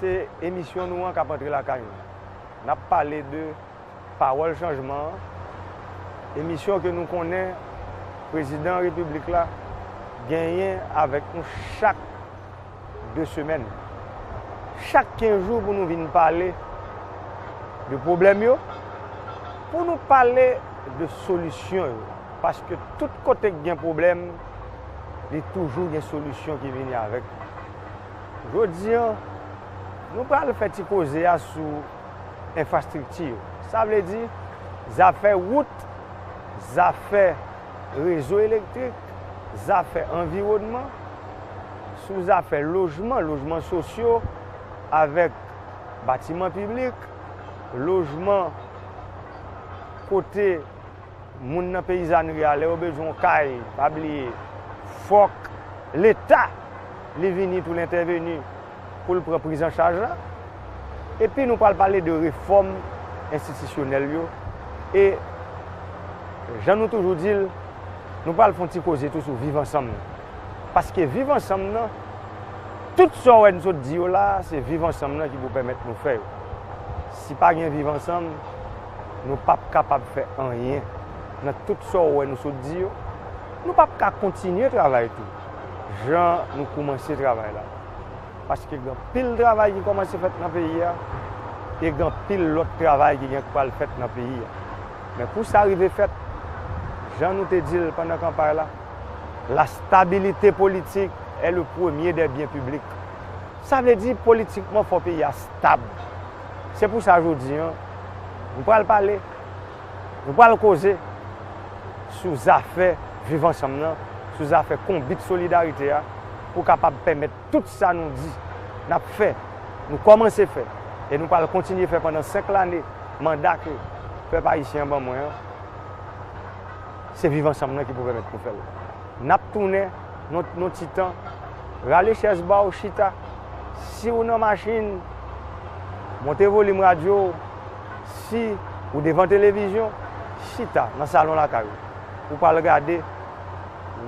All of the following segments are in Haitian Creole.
Se emisyon nou an k ap antre lakay nou. N ap pale de Pawòl Chanjman an, emisyon ke nou konnen Prezidan Repiblik la genyen avèk nou chak de semèn. Chak kenz jou pou nou vin pale de pwoblèm yo, pou nou pale de solisyon yo. Paske tout kote k gen pwoblèm, li toujou gen solisyon ki vini avèk li. Jodi an, nou pral fè ti koze a sou enfrastrikti yo. Sa vle di, zafè wout, zafè rezo elektrik, zafè anviwònman, sou zafè lojman, lojman sosyo avèk batiman piblik, lojman kote. Moun nan peyizanri a lè yo bezwen yon kay pa bliye fòk leta li vini pou l entèveni pou l pran prizanchaj la. Epi nou pral pale de refòm enstitisyonèl yo e jan nou toujou di l nou pral fon ti koze tou sou viv ansanm nan. Paske viv ansanm nan tout sa w wè n sot di yo la se viv ansanm nan ki pou pèmèt nou fè yo. Si pa gen viv ansanm. nou pap kapab fè anyen nan tout sa ou wè nou sot di yo, nou pap ka kontinye travay tou jan nou koumanse travay la. Paske gen anpil travay ki koumanse fèt nan peyi a, e gen anpil lòt travay ki gen pral fèt nan peyi a. Men pou sa rive fèt, jan nou te di l pandan kanpay la, la stabilite politik è le premye dè byen piblik. Sa vle di politikman fò peyi a stab. Se pou sa jodi an, nou pral pale, nou pral koze sou zafè viv ansanm nan, sou zafè konbit solidarite a pou kapab pèmèt tout sa nou di n ap fè, nou kòmanse fè e nou pral kontinye fè pandan 5 lane manda ke pèp ayisyen an ban mwen an, se viv ansanm nan ki pou pèmèt nou fè l. N ap tounen. Yon ti tan. Rale chèz ba w chita. Si w nan machin, monte volim radyo w. Si ou devan televizyon, chita nan salon lakay ou. Ou pral gade,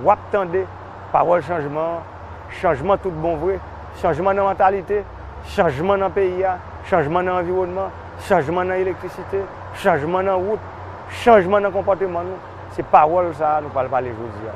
w ap tande pawòl chanjman an. Chanjman tout bon vre. Chanjman nan mantalite, chanjman nan peyi a, chanjman nan anviwònman, chanjman nan elektrisite, chanjman nan wout, chanjman nan konpòteman nou. Se pawòl sa a nou pral pale jodi a.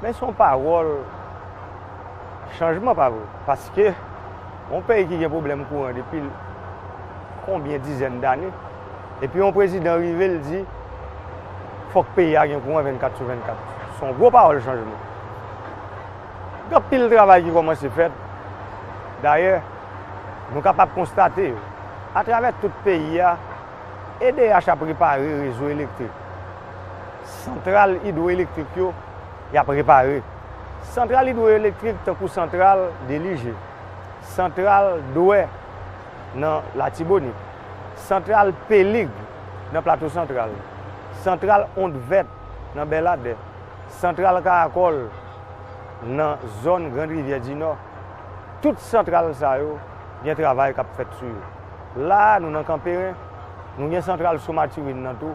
Men son pawòl chanjman pa vre? Paske yon peyi ki gen pwoblèm kouran depi konbyen dizèn dane, epi yon prezidan rive l di fòk peyi a gen kouran 24 sou 24. Son gwo pawòl chanjman. Gen anpil travay ki kòmanse fèt. Dayè, nou kapab konstate yo. Atravè tout peyi a, edh ap repare rezo elektrik. Santral idwoelektrik yo y ap repare. Santral idwoelektrik tankou santral Delije, santral Dwè nan Latibonit, santral Pelig nan Plato Santral, santral Ond Vèt nan Bèladè, santral Karakòl nan zòn Grand Rivyè Dinò, tout santral sa yo gen travay k ap fèt sou yo. La a nou nan Kanperen, nou gen santral Sou Matirin nan tou.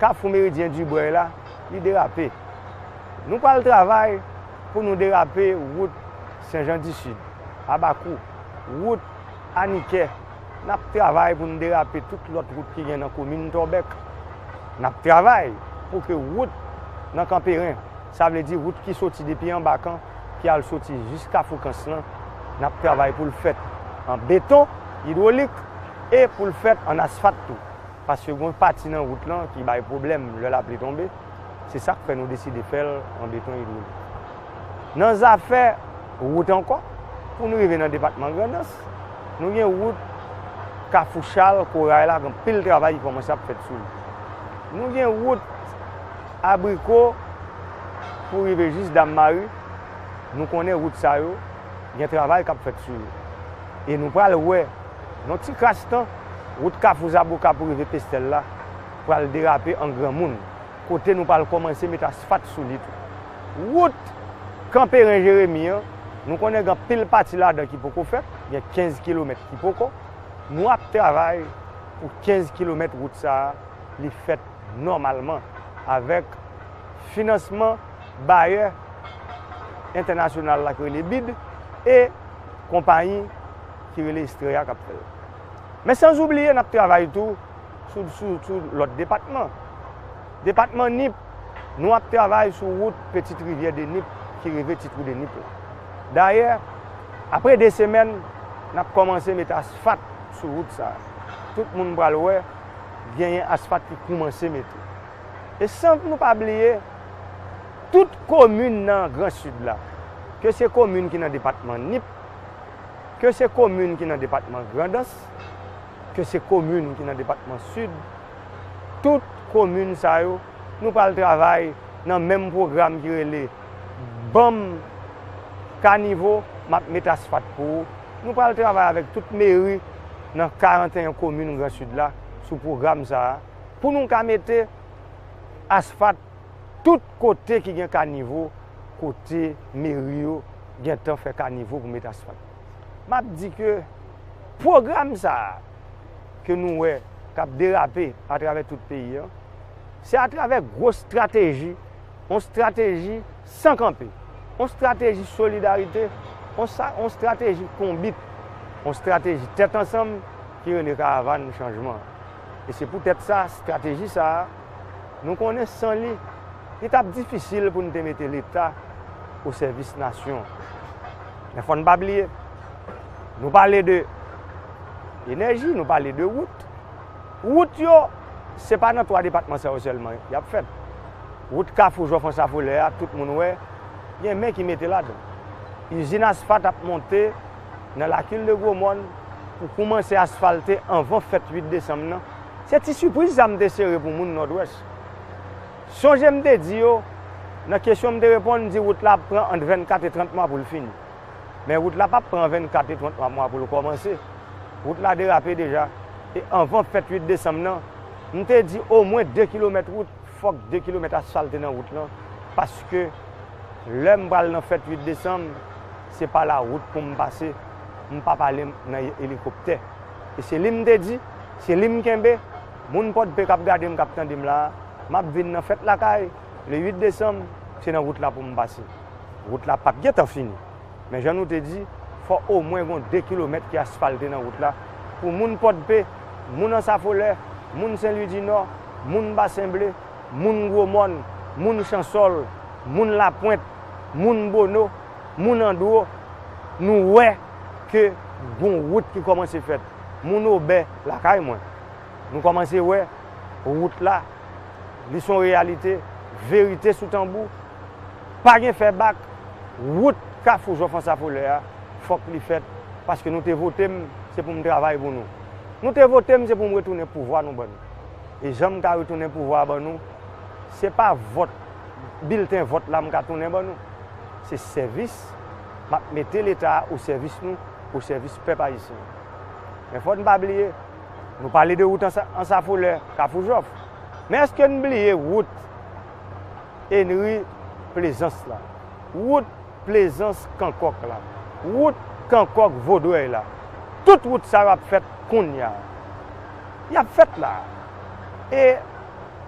Kafou Meridyen Dubreuil la, li derape. Nou pral travay pou nou derape wout Senjandisid, Abakou, wout Anikè, n ap travay pou nou derape tout lòt wout ki gen nan komin Tòbèk. N ap travay pou ke wout nan Kanperen, sa vle di wout ki soti depi anba kan ki al soti jis Kafou Kans lan, n ap travay pou l fèt an beton idwolik e pou l fèt an asfat tou. paske gen yon pati nan wout lan ki bay pwoblèm lè lapli tonbe, se sa k fè nou deside fè l an beton idwolik. Nan zafè wout ankò, pou nou rive nan depatman Grandans, nou gen wout Kafou Chal, Koray la, gen anpil travay ki kòmanse ap fèt sou li. Nou gen wout Abriko pou rive jis Dam Mari, nou konnen wout sa yo gen travay k ap fèt sou yo. E nou pral wè. Yon ti kras tan, wout Kafou Zaboka pou rive Pestèl la pral derape an granmoun, kote nou pral kòmanse met asfat sou li tou. Wout Kanperen Jeremi an, nou konnen gen anpil pati ladan ki poko fèt, gen 15 kilomèt ki poko. Nou ap travay pou 15 kilomèt wout sa a li fèt nòmalman avèk finansman bayè entènasyonal la ki rele bid e konpayi ki rele Estrella k ap fè l. Men sanzoubliye n ap travay tou sou lòt depatman. Depatman Nip, nou ap travay sou wout Petite Rivière de Nip ki rive Ti Trou de Nip la. Dayè, apre 2 semèn, n ap kòmanse mete asfat sou wout sa a. Tout moun pral wè genyen asfat ki koumanse mete. E san nou pa bliye, tout komin nan Gran Sid la, ke se komin ki nan depatman Nip, ke se komin ki nan depatman Grandans, ke se komin ki nan depatman Sid, tout komin sa yo, nou pral travay nan menm pwogram ki rele Banm kanivo, m ap met asfat pou ou. Nou pral travay avèk tout meri nan 41 komin Gran Sid la sou pwogram sa a pou nou ka mete asfat. Tout kote ki gen kanivo, kote meri yo gentan fè kanivo pou met asfalt. M ap di ke pwogram sa a ke nou wè k ap derape atravè tout peyi an, se atravè gwo estrateji, yon estrateji san kanpe, yon estrateji solidarite, yon estrateji konbit, yon estrateji tèt ansanm ki rele Karavàn Chanjman an. E se poutèt sa, estrateji sa a, Nou konnen san li, li t ap difisil pou n te mete Leta osèvis nasyon an. Men fò n pa bliye, nou pale de enèji, nou pale de wout. Wout yo, se pa nan 3 depatman sa yo sèlman y ap fèt. Wout Kafou Jò Fransa Folè a, tout moun wè, gen men ki mete ladan. Izin asfat ap monte nan Lakildegwomòn pou koumanse asfalte anvan fèt 8 desanm nan. Se ti sipriz sa m te sere pou moun Nòdwès. Sonje m te di yo, nan kesyon m te reponn, m di wout la ap pran ant 24 e 30 mwa pou l fini. Men wout la pap pran 24 e 33 mwa pou l kòmanse. Wout la derape deja. E anvan fèt 8 desanm nan, m te di omwen 2 kilomèt wout, fòk 2 kilomèt asfalte nan wout lan, paske lè m pral nan fèt 8 desanm, se pa la wout pou m pase, m pap ale nan elikoptè. e se li m te di, se li m kenbe, moun Pòdpe k ap gade m, k ap tande m la a, m ap vin nan fèt lakay le 8 desanm, se nan wout la pou m pase. Wout la pap gen tan fini, men jan nou te di, fò omwen gon 2 kilomèt ki asfalte nan wout la pou moun Pòdpe, moun Ansafolè, moun Senlwidinò, moun Basenble, moun Gwomòn, moun Chansòl, moun Lapwent, moun Bono, moun Andwo, nou wè. ke gon wout ki kòmanse fèt. Moun Obè lakay mwen. Nou kòmanse wè wout la. Li son reyalite. Verite sou tanbou. Pa gen fè bak. Wout Kafou Jò Fransa Folè a, fòk li fèt. Paske nou te vote m, se pou m travay pou nou. Nou te vote m se pou m retounen pouvwa nou ban nou. E jan m ka retounen pouvwa a ban nou, se pa vòt, bilten vòt la m ka tounen ban nou. Se sèvis Map mete leta a o sèvis nou, o sèvis pèp ayisyen. Men fò n pa bliye, nou pale de wout Ansafolè, Kafou Jòf, men èske n bliye wout Enri Plezans la, wout Plezans Kankòk la, wout Kankòk Vodrèy la? Tout wout sa yo ap fèt kounya. Yap fèt la. E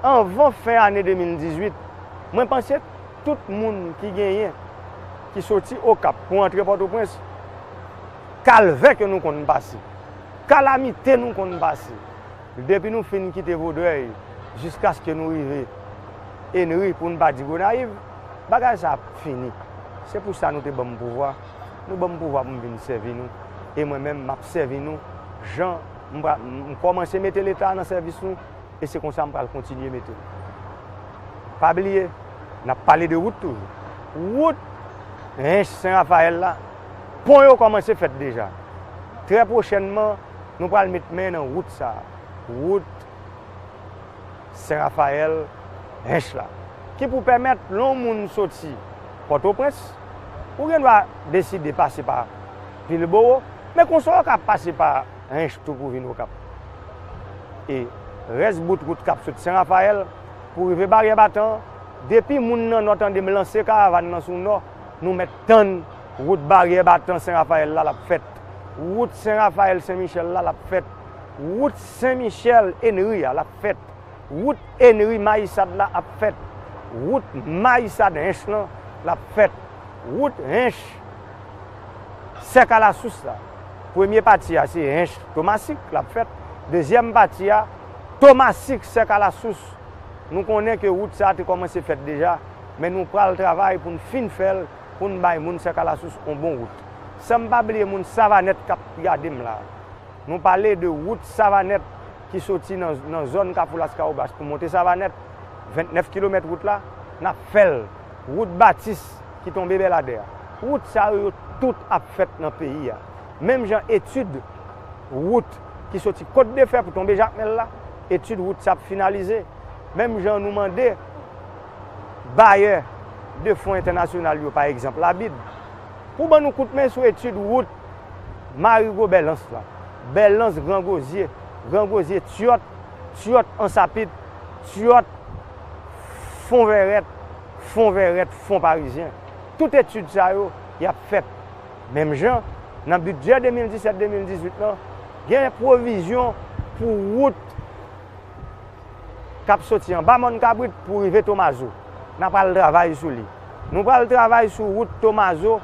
anvan fen ane 2018, mwen panse. Tout moun ki genyen, ki soti Okap pou antre Pòtoprens, kalvè ke nou konn pase, kalamite nou konn pase, depi nou fin kite Vodrèy jiskaske nou rive Enri pou n pa di Gonayiv, bagay sa ap fini. Se pou sa nou te ban m pouvwa. Nou ban m pouvwa pou m vin sèvi nou. E mwen menm, m ap sèvi nou jan m kòmanse mete Leta a nan sèvis nou. e se konsa m pral kontinye mete l. Pa bliye, n ap pale de wout toujou. Wout Hinche Sen Rafayèl la, pon yo kòmanse fèt deja. Trè pwochènman, nou pral met men nan wout sa a, wout Sen Rafayèl, Hinche la, ki pou pèmèt lè yon moun soti Pòtoprens, ou gen dwa deside pase pa Vilbowo, men konsa ou ka pase pa. Hinche tou pou vin Okap. E rès bout wout k ap sot Sen Rafayèl pou rive Baryè Batan an, depi moun nan Nò tande m lanse karavàn nan sou Nò, nou mèt tann wout Baryè Batan Sen Rafayèl la l ap fèt, wout Sen Rafayèl Sen Michèl la l ap fèt, wout Sen Michèl Enri a l ap fèt, wout Enri Mayisad la ap fèt, wout Mayisad Hinche lan l ap fèt, wout Hinche. Sèk alasous la. Premye pati a se Hinche Thomassique l ap fèt. Dezyèm pati a, Thomassique Sèk alasous. Nou konnen ke wout sa te kòmanse fèt deja, men nou pral travay pou n fin fè l, pou n bay moun Sèk alasous on bon wout. San m pa bliye moun Savanèt k ap gade m la. Nou pale de wout Savanèt ki soti nan zòn Kafou Laskawobas pou monte Savanèt, 29 kilomèt wout la, n ap fè l. Wout Batis ki tonbe Bèladè a. Wout sa yo, yo tout ap fèt nan peyi a. Menm jan etid wout ki soti Kotdefè pou tonbe Jakmèl la, etid wout sa ap finalize. Menm jan nou mande bayè de fon entènasyonal yo, pa egzanp Labib, pou ban nou kout men sou etid wout Marigo Bèlans la. Bèlans Grangozye, Grangozye Tyòt, Tyòt Ansapit, Tyòt. Fon vèrèt, fon vèrèt, fon parizyen. Tout etid sa yo, y ap fèt. Menm jan, nan bidjè 2017-2018 lan, gen pwovizyon pou wout k ap soti anba Mòn Kabrit pou rive Tomazo. N a pral travay sou li. Nou pral travay sou wout Tomazo,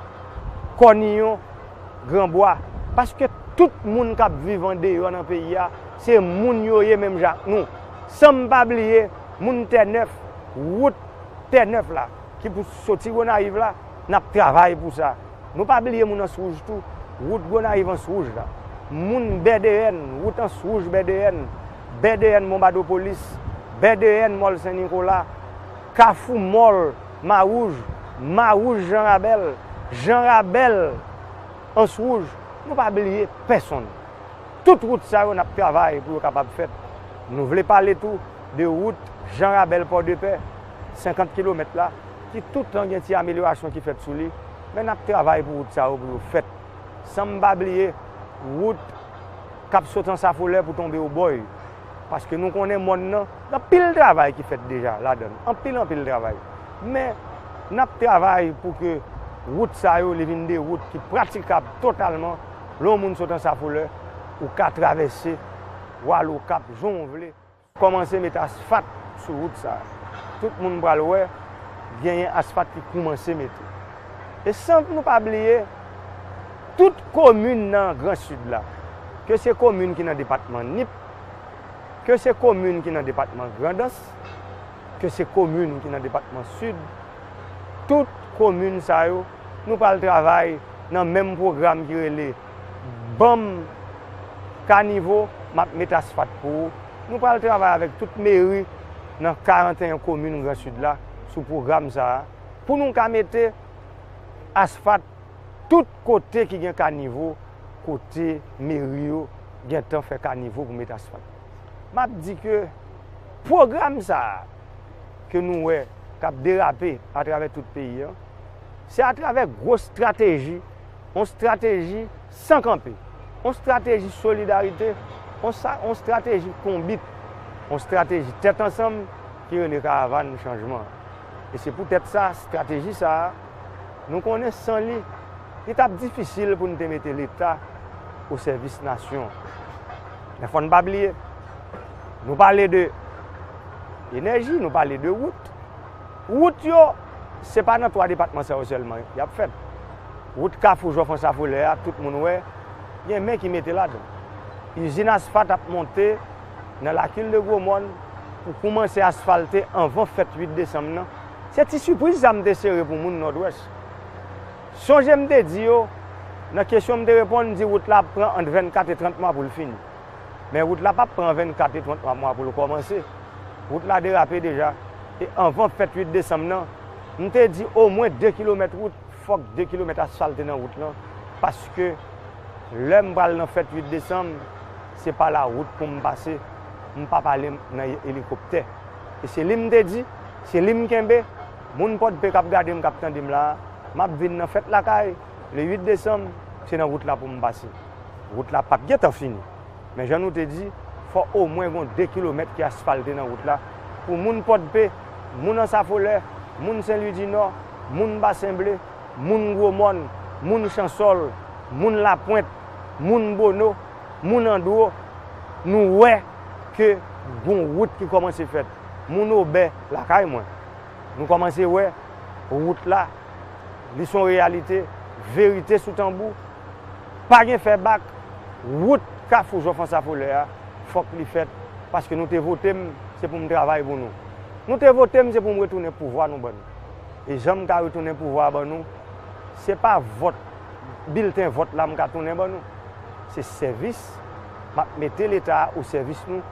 Kòniyon, Gran Bwa. Paske tout moun k ap viv andeyò nan peyi a, se moun yo ye menm jan ak nou. San m pa bliye. moun tè nèf, wout tè nèf la ki pou soti gonayiv la nap travay pou sa nou pa bliye moun ans wouj tou wout gonayiv ans wouj la moun bèdeyèn wout ans wouj bèdeyèn bèdeyèn monbadopolis bèdeyèn mòl sen nikola kafou mòl mawouj mawouj jan rabèl jan rabèl ans wouj nou pa bliye pèsonn. Tout wout sa yo n ap travay pou yo kapab fèt. Nou vle pale tou de wout Jan Rabèl Pòdepè, 50 kilomèt la, ki toutan gen ti amelyorasyon ki fèt sou li, men n ap travay pou wout sa yo pou yo fèt. San m pa bliye wout k ap sot Ansafolè pou tonbe Obòy, paske nou konnen mòn nan gen anpil travay ki fèt deja ladan l, anpil anpil travay. Men, n ap travay pou ke wout sa yo li vin de wout ki pratikab totalman Lè yon moun sot Ansafolè, ou ka travèse w al Okap jan w vle. Kòmanse met asfat sou wout sa a. Tout moun pral wè genyen asfat ki koumanse mete. E san nou pa bliye tout komin nan Gran Sid la, ke se komin ki nan depatman Nip, ke se komin ki nan depatman Grandans, ke se komin ki nan depatman Sid, tout komin sa yo, nou pral travay nan menm pwogram ki rele Banm kanivo, m ap met asfat pou ou. Nou pral travay avèk tout meri nan 41 komin Gran Sid la sou pwogram sa a, pou nou ka mete asfat tout kote ki gen kanivo, kote meri yo gentan fè kanivo pou met asfat. m ap di ke pwogram sa a ke nou wè k ap derape atravè tout peyi an, se atravè gwo estrateji, yon estrateji san kanpe, yon estrateji solidarite, yon estrateji konbit, yon estrateji tèt ansanm ki rele Karavàn Chanjman an. E se poutèt sa, estrateji sa a, nou konnen san li, Li t ap difisil pou n te mete Leta osèvis nasyon. Men fò n pa bliye, nou pale de enèji, nou pale de wout. Wout yo, se pa nan twa depatman sa yo sèlman y ap fèt. Wout Kafou Jò Fransa Folè a, tout moun wè, gen men ki mete ladan l. Izin asfat ap monte nan Lakil de Gwomòn pou koumanse asfalte anvan fèt 8 desanm nan. Se ti sipriz sa m te sere pou moun Nòdwès. Sonje m te di yo, nan kesyon m te reponn, m di wout la ap pran ant 24 e 30 mwa pou l fini. Men wout la pap pran 24 e 30 mwa pou l kòmanse. Wout la derape deja. E anvan fèt 8 desanm nan, m te di omwen 2 kilomèt wout, fòk 2 kilomèt asfalte nan wout lan, paske lè m pral nan fèt 8 desanm, se pa la wout pou m pase, m pap ale nan elikoptè. E se li m te di, se li m kenbe. Moun Pòdpe kap gade m, kap tande m la, map vin nan fèt lakay le 8 desanm, se nan wout la pou m pase. Wout la pap gentan fini, men jan nou te di, fò omwen gon 2 kilomèt ki asfalte nan wout la pou moun Pòdpe, moun Ansafolè, moun Senlwidinò, moun Basenble, moun Gwomòn, moun Chansòl, moun Lapwent, moun Bono, moun Andwo, nou wè ke gon wout ki kòmanse fèt. Moun Obè, lakay mwen. Nou kòmanse wè wout la, li son reyalite, verite sou tanbou, pa gen fè bak, wout kafou Jean François Follet a fòk li fèt paske nou te vote m se pou m travay pou nou. Nou te vote m se pou m retounen pouvwa nou ban nou. E jan m ka retounen pouvwa a ban nou, se pa vòt, bilten vòt la m ka tounen ban nou. Se sèvis m ap mete leta a osèvis nou.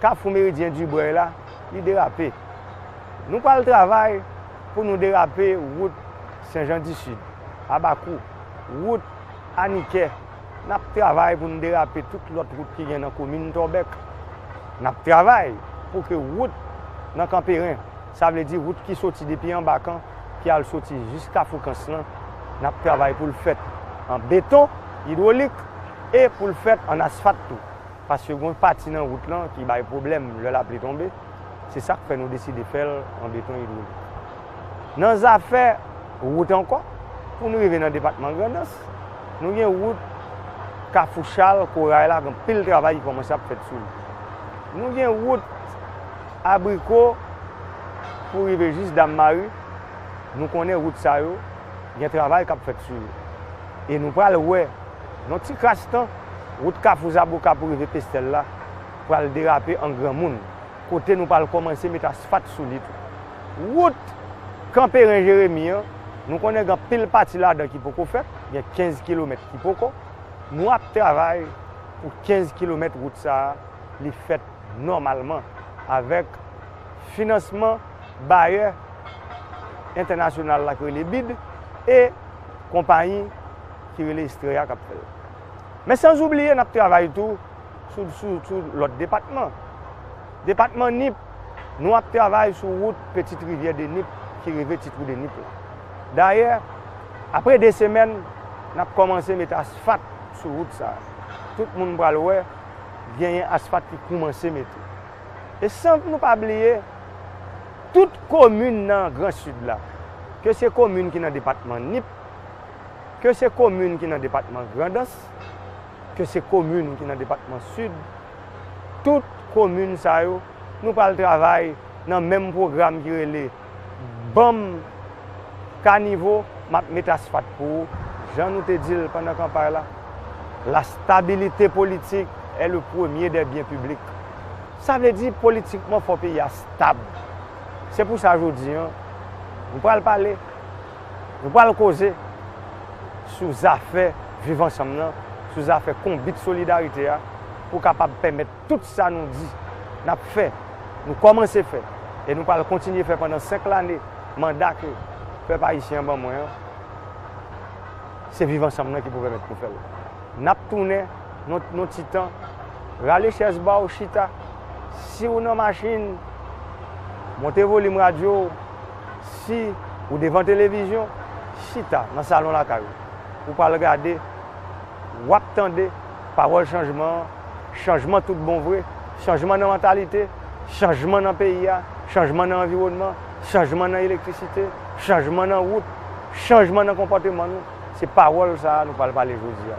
Kafou Meridyen Dubreuil la, li derape. Nou pral travay pou nou derape wout Sen Jan di Sid, Abakou, wout Anikè, n ap travay pou nou derape tout lòt wout ki gen nan komin Tòbèk. N ap travay pou ke wout nan Kanperen, sa vle di wout ki soti depi anba kan ki al soti jis Kafou Kans lan, n ap travay pou l fèt an beton idwolik e pou l fèt an asfat tou. paske gon pati nan wout lan ki bay pwoblèm lè lapli tonbe, se sak fè nou deside fè l an beton idwolik. Nan zafè wout ankò, pou nou rive nan depatman Grandans, nou gen wout Kafou Chal, Koray la, gen anpil travay ki kòmanse ap fèt sou li. Nou gen wout Abriko pou rive jis Dam Mari, nou konnen wout sa yo gen travay k ap fèt sou yo. E nou pral wè. Nan ti kras tan, wout Kafou Zaboka pou rive Pestèl la pral derape an granmoun, kote nou pral kòmanse met asfat sou li tou. Wout Kanperen Jeremi an, nou konnen gen anpil pati ladan ki poko fèt, gen 15 kilomèt ki poko. Nou ap travay pou 15 kilomèt wout sa a li fèt nòmalman avèk finansman bayè entènasyonal la ki rele bid e konpayi ki rele Estrella a k ap fè l. Men sanzoubliye n ap travay tou sou lòt depatman. Depatman Nip, nou ap travay sou wout Petite Rivière de Nip ki rive Ti Trou de Nip la. Dayè, apre 2 semèn, n ap kòmanse mete asfat sou wout sa a. Tout moun pral wè genyen asfat ki koumanse mete. E san nou pa bliye tout komin nan Gran Sid la, ke se komin ki nan depatman Nip, ke se komin ki nan depatman Grandans, ke se komin ki nan depatman Sid, tout komin sa yo, nou pral travay nan menm pwogram ki rele ban m kanivo, m ap met asfat pou ou, jan nou te di l pandan kanpay la, la stabilite politik è le premye dè byen piblik. Sa vle di politikman fò peyi a stab. Se pou sa jodi an, nou pral pale. Nou pral koze sou zafè viv ansanm nan, sou zafè konbit solidarite a pou kapab pèmèt tout sa nou di n ap fè, nou kòmanse fè e nou pral kontinye fè pandan 5 lane manda ke pèp ayisyen an ban mwen an, se viv ansanm nan ki pou pèmèt nou fè l. N ap tounen nan yon ti tan. Rale chèz ba w chita. Si w nan machin, monte volim radyo w. Si ou devan televizyon, chita nan salon lakay ou, ou pral gade, w ap tande pawòl chanjman an, chanjman tout bon vre, chanjman nan mantalite, chanjman nan peyi a, chanjman nan anviwònman, chanjman nan elektrisite, chanjman nan wout, chanjman nan konpòteman nou. Se pawòl sa a nou pral pale jodi a.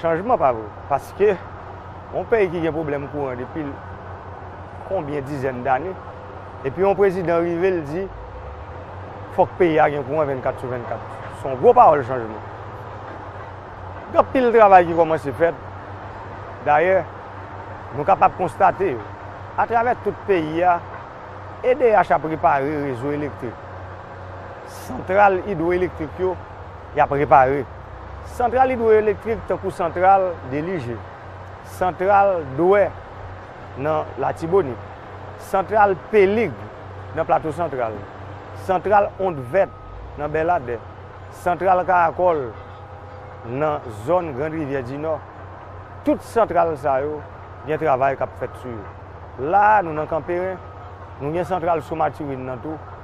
Chanjman pa vre. Paske, yon peyi ki gen pwoblèm kouran depi konbyen dizèn dane, epi yon prezidan rive l di, fòk peyi a gen kouran 24 sou 24. Se yon gwo pawòl chanjman. Gen anpil travay ki kòmanse fèt. Dayè, nou kapab konstate yo. Atravè tout peyi a, edh ap repare rezo elektrik. Santral idwoelektrik yo. Y ap repare santral idwoyelektrik tankou santral Delije, santral Dwè nan Latibonit, santral Pelig nan Plato Santral, santral Ond Vèt nan Bèladè, santral Karakòl nan zòn Grand Rivyè Dinò. Tout santral sa yo gen travay k ap fèt sou yo. La a, nou nan Kanperen, nou gen santral Sou Matirin nan tou.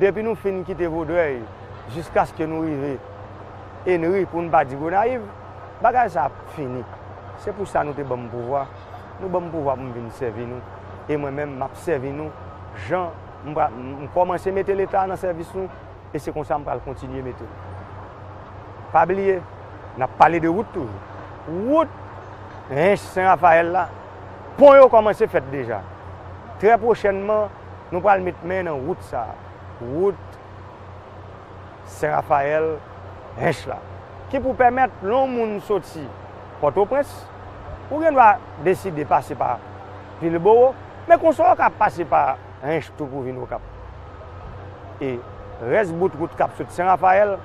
Depi nou fin kite Vodrèy jiskaske nou rive Enri pou n pa di Gonayiv, bagay sa ap fini. Se pou sa nou te ban m pouvwa. Nou ban m pouvwa pou m vin sèvi nou. E mwen menm m ap sèvi nou jan m pra m kòmanse mete Leta nan sèvis nou e se konsa m pral kontinye mete l. Pa bliye, n ap pale de wout toujou. Wout Hinche Sen Rafayèl la, pon yo kòmanse fèt deja. Trè pwochènman. Nou pral met men nan wout sa a, wout Sen Rafayèl, Hench la, ki pou pèmèt lè yon moun soti Pòtoprens, ou gen dwa deside pase pa Vilebowo, men konsa ou ka pase pa Hench tou pou vin Okap. E rès bout wout k ap sot Sen Rafayèl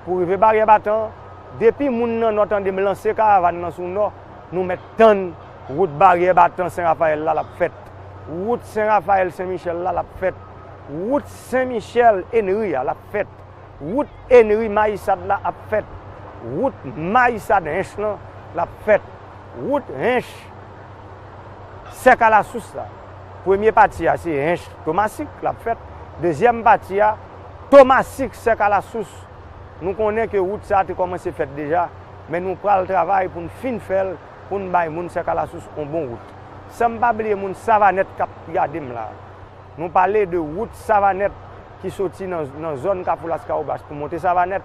pou rive Baryè Batan an, depi moun nan Nò tande m lanse karavàn nan sou Nò, nou mèt tann. Wout baryè batan Sen Rafayèl la l ap fèt. Wout Sen Rafayèl Sen Michèl la l ap fèt. Wout Sen Michèl Enri a l ap fèt. Wout Enri Mayisad la ap fèt. Wout Mayisad Hench lan l ap fèt. Wout Hench Sèk Alasous la, premye pati a se Hench Tomasik l ap fèt. Dezyèm pati a, Tomasik Sèk Alasous. Nou konnen ke wout sa a te kòmanse fèt deja, men nou pral travay pou n fin fè l. pou n bay moun Sèkalasous on bon wout. San m pa bliye moun Savanèt k ap gade m la a. Nou pale de wout Savanèt ki soti nan zòn Kafou Laskawobas pou monte Savanèt,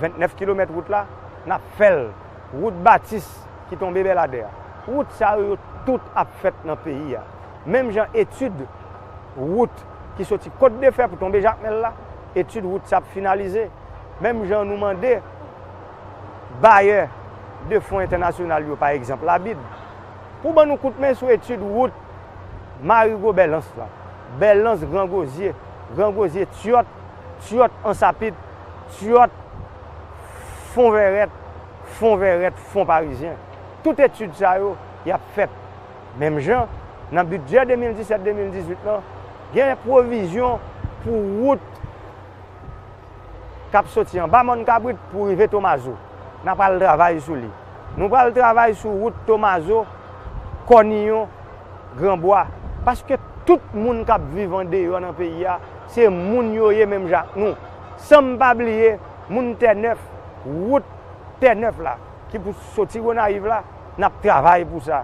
29 kilomèt wout la, n ap fè l. Wout Batis ki tonbe Bèladè a. Wout sa yo, yo tout ap fèt nan peyi a. Menm jan etid wout ki soti Kotdefè pou tonbe Jakmèl la, etid wout sa ap finalize. Menm jan nou mande. bayè de fon entènasyonal yo pa egzanp labib pou ban nou kout men sou etid wout Marigo Bèlans lan, Bèlans Gran Gozye, Gran Gozye Tyòt, Tyòt Ansapit, Tyòt Fon Vèrèt, Fon Vèrèt Fon Parizyen. Tout etid sa yo y ap fèt menm jan nan bidjè 2017-2018 lan gen pwovizyon pou wout. k ap soti anba Mòn Kabrit pou rive Tomazo. N a pral travay sou li. Nou pral travay sou wout Tomazo, Kòniyon, Gran Bwa. Paske tout moun k ap viv andeyò nan peyi a, se moun yo ye menm jan ak nou. San m pa bliye moun Tènèf, wout Tènèf la ki pou soti Gonayiv la, n ap travay pou sa.